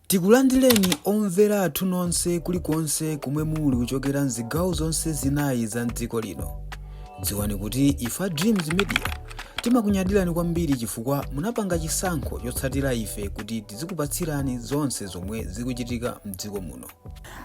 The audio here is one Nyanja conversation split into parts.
Tikulandireni omvera athu nonse kulikonse komwe muli kuchokera mzigawo zonse zinayi za mdziko lino. Dziwani kuti ife a Dreams Media timakunyadirani kwambiri chifukwa munapanga chisankho chotsatira ife kuti tizikupatsirani zonse zomwe zikuchitika mdziko muno.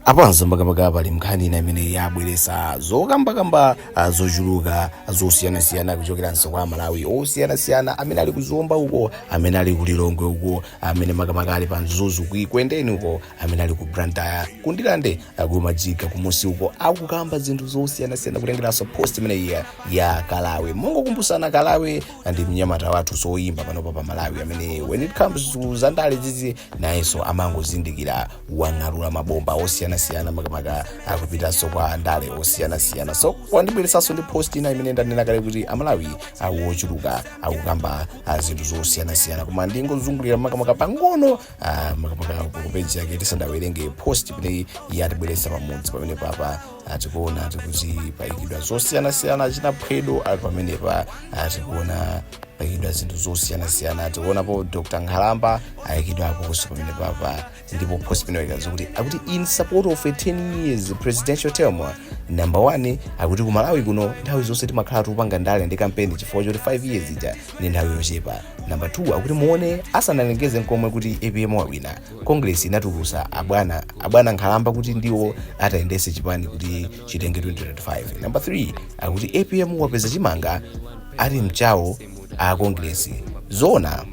apanso makamaka pali nkhani ina imene yabweresa zokambakamba ah, zochuluka zosiyanasiyana kuchokeranso kwa amalawi osiyanasiyana amene ali ku zomba uko amene ali ku lilongwe uko amene makamaka ali pa mzuzu ku ekwendeni uko amene ali ku blantyre ku ndirande ku machinga kumusi uko akukamba zinthu zosiyanasiyana kutengeranso post imeneyi ya kalawe mongokumbutsana kalawe ndi mnyamata wathu woyimba panopa pa malawi amene when it comes to zandale zizi nayenso amangozindikira wang'alula mabomba osiyanasiyana makamaka kupitanso kwa andale osiyanasiyana so wabweranso ndi post ina imene ndanena kale kuti amalawi ochuluka akukamba ah, zinthu zosiyanasiyana koma ndingozungulira makamaka pang'ono ah, makamaka ku page yake tisanawerenge post imeneyi yatibweretsa pamudzi pamene papa ah tikuona kuti paikidwa zosiyanasiyana achina phwedo ali pamenepa ah tikuona paikidwa zinthu zosiyanasiyana ah tikuonapo dr nkhalamba ayikidwa aposo pamene papa ndipo post imene waika kuti akuti in support of a 10 years presidential term number one akuti ku malawi kuno nthawi zonse timakhala tikupanga ndale ndi kampeni chifukwa choti 5 years ija ndi nthawi yochepa number two akuti muone asanalengeze nkomwe kuti apm wawina Congress inatulutsa abwana abwana nkhalamba kuti ndiwo atayendetse chipani kuti chitenge 2030. Number 3 akuti apm wapeza chimanga ati mchawo a Congress zona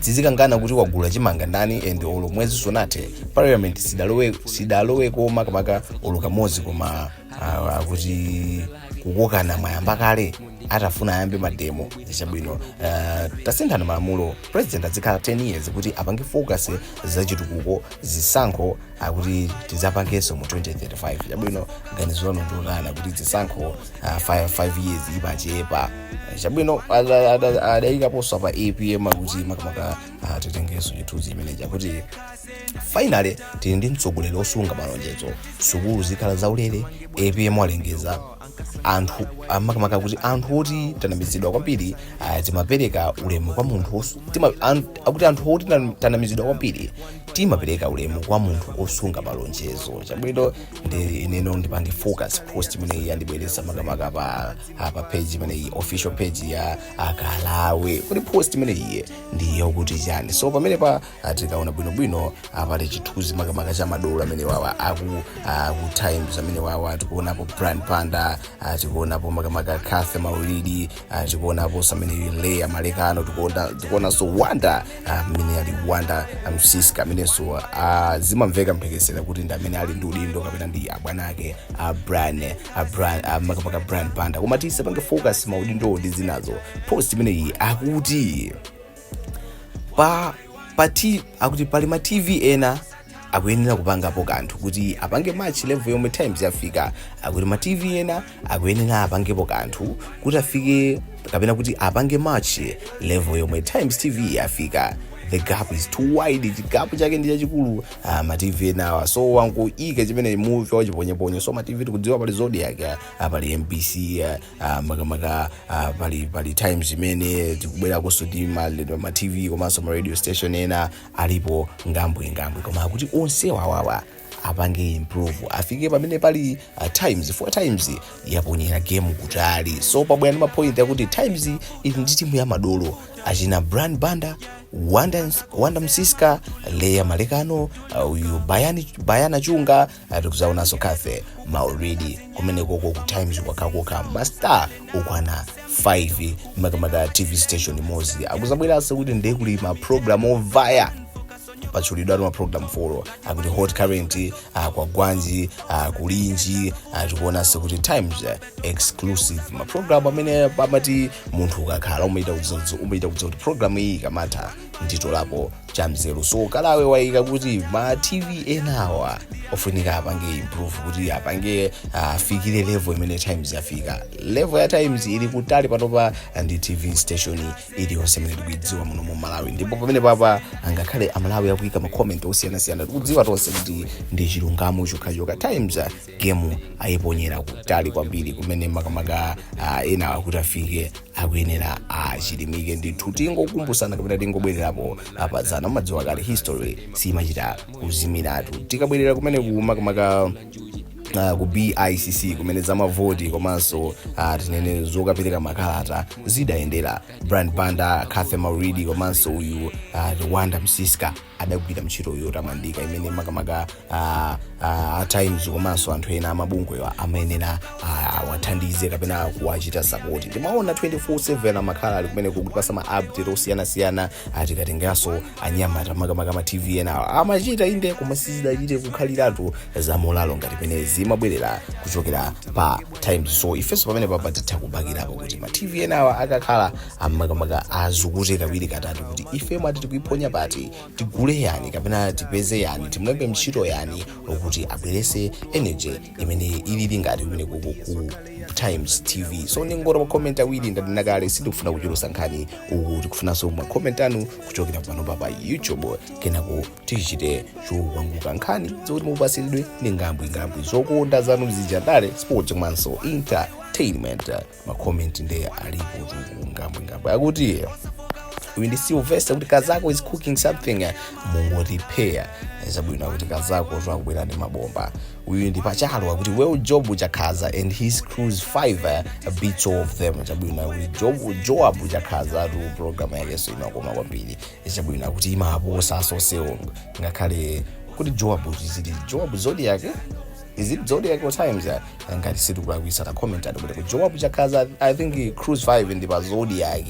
tizikakangana kuti wagula chimanga ndani and olo mwezi sunathe parliament sidalowe sidalowe ko makamaka olo kamodzi koma ah, akuti kukokana mwayamba kale atafuna ayambe mademo chabwino uh, tasinthani malamulo president azikhala 10 years kuti apange focus zachitukuko zisankho akuti tizapangenso mu 2035 chabwino ganizo lanu ndilotani kuti zisankho uh, 5, 5 years ikuchepa chabwino adayikanso post ya apm akuti makamaka uh, titengenso chithunzi chimenechi akuti finally tili ndi mtsogoleri wosunga malonjezo sukulu zikhala zaulere apm alengeza anthu ah, makamaka akuti anthu oti tanamizidwa kwambiri ah, timapereka ulemu kwa munthu os- tima- an- akuti anthu oti tan- tanamizidwa kwambiri timapereka ulemu kwa munthu osunga malonjezo chabwino ndiye ineyo ndipange focus post imeneyi yandibweresa makamaka pa ah, pa page imeneyi official page ya akalawe kuti post imeneyi ndi yokuti chani so pamene pa tikaona bwinobwino apapa chithunzi makamaka cha madolo amene wawa aku times amene wawa tikuonapo brian banda ah, tikuonapo makamaka cathy maulidi ah, tikuonapo amene leah malekano tikuona- tikuonanso wonder ah, amene ali wonder msiska amenenso ah, zimamveka mphekesera kuti ndi amene ali ndi udindo kapena ndi abwana ake a brian a brian ah, makamaka brian banda koma tisapange focus maudindowo ndi zinazo post imeneyi akuti pa pa t akuti pali ma tv ena akuyenera kupangapo kanthu kuti apange match level yomwe times yafika akuti ma tv ena akuyenera apangepo kanthu kuti afike kapena kuti apange match level yomwe times tv yafika the gap is too wide chigapu chake ndi chachikulu ah, ma tv enawa so wangoika chimenechi muvi wachiponyeponye so ma tv tikudziwa pali zodiac ah, pali mbc ah, ah, makamaka ah, pali pali times imene tikubwerakonso ndi maradio ma tv komanso ma radio station ena alipo ngambwi ngambwi koma akuti onse wawawa apange improve afike pamene pali uh, times four times yaponyera game kutali so pabwera ndi mapoint akuti times ili ndi timu ya madolo achina brian banda wonder, wonder msiska leah malekano uh, uyu bayani, bayana chunga tikuzaonanso cathy maulidi kumenekoko ku times kwakhako mastar okwana 5 makamaka tv station imodzi akuzabweranso kuti ndiye kuli maprogramu ovaya patchulidwa maprogramu folo akuti hot current ah, kwagwanji ah, kulinji ah, tikuonanso kuti times ah, exclusive maprogramu amene pamati munthu ukakhala umachita kudziwa umachita kudziwa kuti programu iyi ikamatha nditolapo cha mzeru so kalawe waika kuti ma tv enawa ofunika apange improve kuti apange afikire uh, level imene times yafika level ya times ili kutali panopa ndi tv station iliyonse imene tikuidziwa muno mu malawi ndipo pamene papa angakhale amalawi akuika makomenti osiyanasiyana tikudziwa tonse kuti ndi chilungamo chokhachokha times gemu ayiponyera kutali kwambiri kumene makamaka ah, enawa kuti afike akuyenera achilimike ndithu tingokumbutsana kapena tingobwererapo apadzana mumadziwa kale history simachita kuzimiratu tikabwerera kumene ku makamaka uh, ku bicc kumene zamavoti komanso uh, tinene zokapereka makalata zidayendera brian banda cathy maulidi komanso uyu uh, wonder msiska adagwira ntchito yotamandika imene makamaka ah, ah, a times komanso anthu ena amabungwewa amayenera ah, awathandize kapena kuwachita sapoti timaona 24/7 amakhala ali kumene kutipatsa ma update osiyanasiyana ah, tikatengeranso anyamata makamaka ma tv enawo amachita inde koma sizidachite kukhaliratu za molalo ngati mmene zimabwerera kuchokera pa times so ifenso pamene papa titha kubakirapo kuti ma tv enawa akakhala amakamaka azukute kawiri katatu kuti ife mwina tikuiphonya pati tigule yani kapena tipeze yani timulembe ntchito yani wokuti abwerese energy imene ilili ngati kumene kuku ku times tv so ndingoti makomenti awiri ndanena kale sindikufuna kuchulusa nkhani uku tikufunanso makomenti anu kuchokera pano papa pa youtube kenako tichite chopunguka nkhani zokuti mupasiridwe ndi ngambwingambwi zokonda zanu zija ndale sports komanso entertainment makomenti nde alipotu ngambwingambwi akuti uyu ndi silvester kuti kazako is cooking something mungoti pa chabwino akuti kazako akubwera ndi mabomba uyu ndi pachalo akuti well joab chakhaza and his cruise 5 beats all of them chabwino akuti joab chakhazatu program yake so imakoma kwambiri chabwino akuti imaposa onsewo ngakhale kuti joab zili joab zodiac is it zodiac or times ya ngati sindikulakwisa pa comment ati kuti ku joab chakhaza i think cruise 5 ndi pa zodiac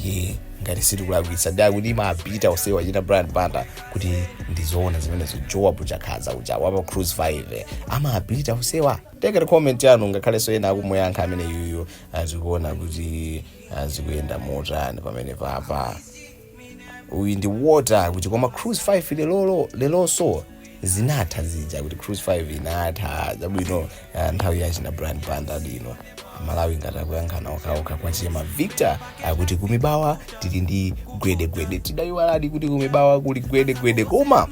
ye ngati sindikulakwisa nde akuti imabita onsewa china brian banda kuti ndizoona zimenezo joab chakhaza uja wapa cruise 5 amabita onsewa talandira comment yanu ngakhalenso ena akumuyankha amene yuyu azikuona kuti zikuyenda motani pamene papa uyu ndi water kuti koma cruise 5 lelolo lelonso zinatha zija kuti cruise 5 inatha chabwino ah, nthawi yachina brian banda ino malawi ngati akuyankhana okhaokha kwa chema victor akuti kumibawa tili ndi gwedegwede tidayiwaladi kuti kumibawa kuli gwedegwede koma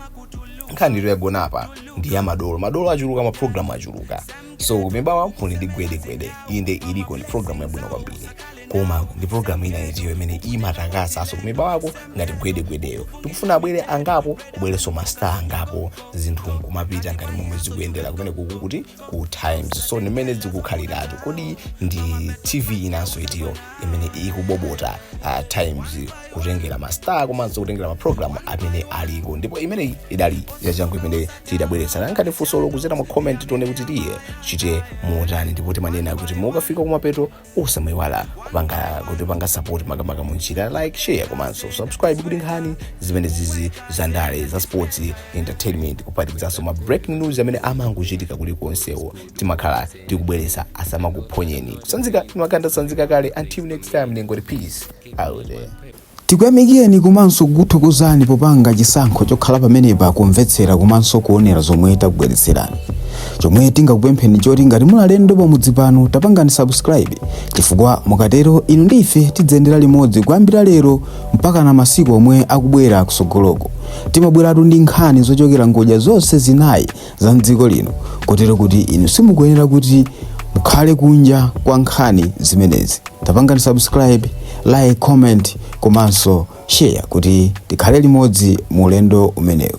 nkhani ito yagona apa ndi ya madolo madolo achuluka maprogramu achuluka so kumibawa kuli ndi gwedegwede nde iliko ndi programu yabwino kwambiri koma ndi programu ina itiyo imene imatakasanso kumibawako ngati gwedegwedeyo tikufuna abwere angapo kubwerenso mastar angapo zinthu nkumapita ngati momwe zikuyendera kumene kuku kuti ku times so ndimene zikukhaliratu kodi ndi tv inanso itiyo imene ikubita uh, times kutengera mastar komanso kutengera mapulogalamu amene aliko ndipo imeneyi idali yachangu imene tidabweretsa pankhani tauzani kuzera mu comment tione kuti ichite motani ndipo timanena kuti mukafika kumapeto musamayiwale kupanga kutipanga support makamaka munjira like share komanso subscribe kuti nkhani zimenezizi za ndale za sports entertainment kuphatikizaso ma breaking news amene amangochitika kulikonsewo timakhala tikubweresa zisamakuphonyeni kusanzika timakhala tasanzika kale until next time ndingoti peace out there tikuyamikeni komanso kukuthokozani popanga chisankho chokhala pamenepa kumvetsera komanso kuonera zomwe takubweretserani chomwe tingakupempheni choti ngati muli alendo pamudzi pano tapangani subscribe chifukwa mukatero inu ndi ife tidziyendera limodzi kuyambira lero mpaka na masiku omwe akubwera kusogoloko timabweratu ndi nkhani zochokera ngodya zonse zinayi za mdziko lino kotero kuti inu simukuyenera kuti mukhale kunja kwa nkhani zimenezi tapangani subscribe like comment komanso share kuti tikhale limodzi mu ulendo umenewu